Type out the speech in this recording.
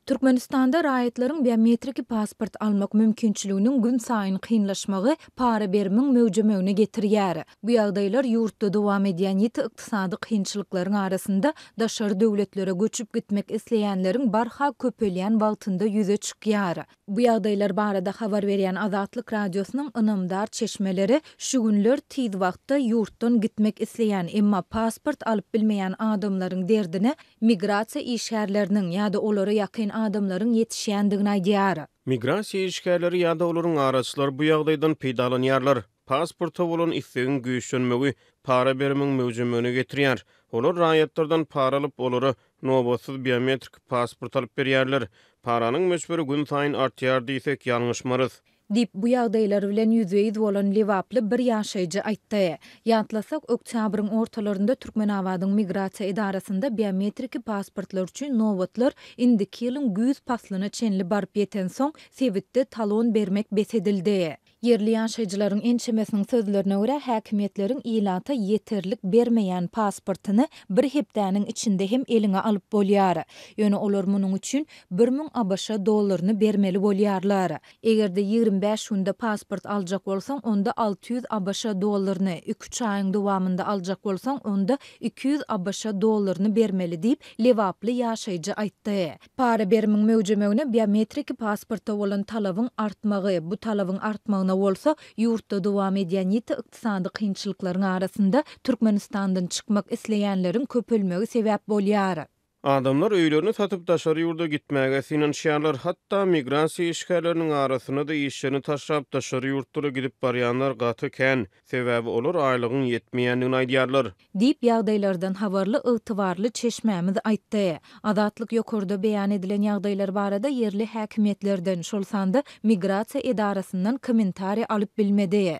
Türkmenistanda raýatlaryň biometriki pasport almak mümkinçiliginiň günsaýyn kynlaşmagy para berimiň möwjemegine getirýär. Bu ýagdaýlar ýurtda dowam edýän ýiti ykdysady kynçylyklaryň arasynda daşary döwletlere göçüp gitmek isleýänleriň barha köpelýän wagtynda ýüze çykýar. Bu ýagdaýlar barada habar berýän Azatlyk Radiosynyň ynamdar çeşmeleri şu günler tiz wagtda ýurtdan gitmek isleýän, emma pasport alyp bilmeýän adamlaryň derdine migrasiýa işgärleriniň ýa-da olara ýakyn adamlaryň ýetişýändigini aýdýar. Migrasiýa işgärleri ýa-da olaryň araçylary bu ýagdaýdan peýdalanýarlar. Pasporta bolan islegiň güýçlenmegi para berimiň möwjemegine getirýär. Olar raýatlardan para alyp, olara Nobatsyz biometriki pasport alyp berýärler. Paranyň möçberi günsaýyn artýar diýsek, ýalňyşmarys. Diýip, bu ýagdaýlar bilen ýüzbe-ýüz bolan lebaply bir ýaşaýjy aýtdy. Ýatlasak, oktýabryň ortalarynda Türkmenabadyň migrasiýa edarasynda biometriki pasportlar üçin nobatlar indiki ýylyň güýz paslyna çenli baryp ýetensoň, sebitde talon bermek bes edildi. Ýerli ýaşaýjylaryň ençemesiniň sözlerine görä, häkimiýetleriň ilata ýeterlik bermeýän pasportyny bir hepdäniň içinde hem eliňe alyp bolýar. Ýöne olar munuň üçin bir müň ABŞ dollaryny bermeli bolýarlar. Eger-de ýigrimi bäş günde pasport aljak bolsaň, onda alty ýüz ABŞ dollaryny, iki-üç aýyň dowamynda aljak bolsaň, onda iki ýüz ABŞ dollaryny bermeli diýip, lebaply ýaşaýjy aýtdy. Para berimiň möwjemegine biometriki pasporta bolan talabyň artmagy, bu talabyň artmagyna bolsa ýurtda dowam edýän ýiti ykdysady kynçylyklaryň arasynda Türkmenistandan çykmak isleýänleriň köpelmegi sebäp bolýar. Adamlar öýlerini satyp daşary ýurda gitmäge synanyşýarlar. Hatda migrasiýa işgärleriniň arasynda-da işlerini taşlap daşary ýurtlara gidip barýanlar gaty kän. Sebäbi olar aýlygyň ýetmeýändigini aýdýarlar. Diýip, ýagdaýlardan habarly ygtybarly çeşmämiz aýtdy. Azatlyk ýokarda beýan edilen ýagdaýlar barada ýerli häkimiýetlerden, şol sanda migrasiýa edarasyndan kommentariýa alyp bilmedi.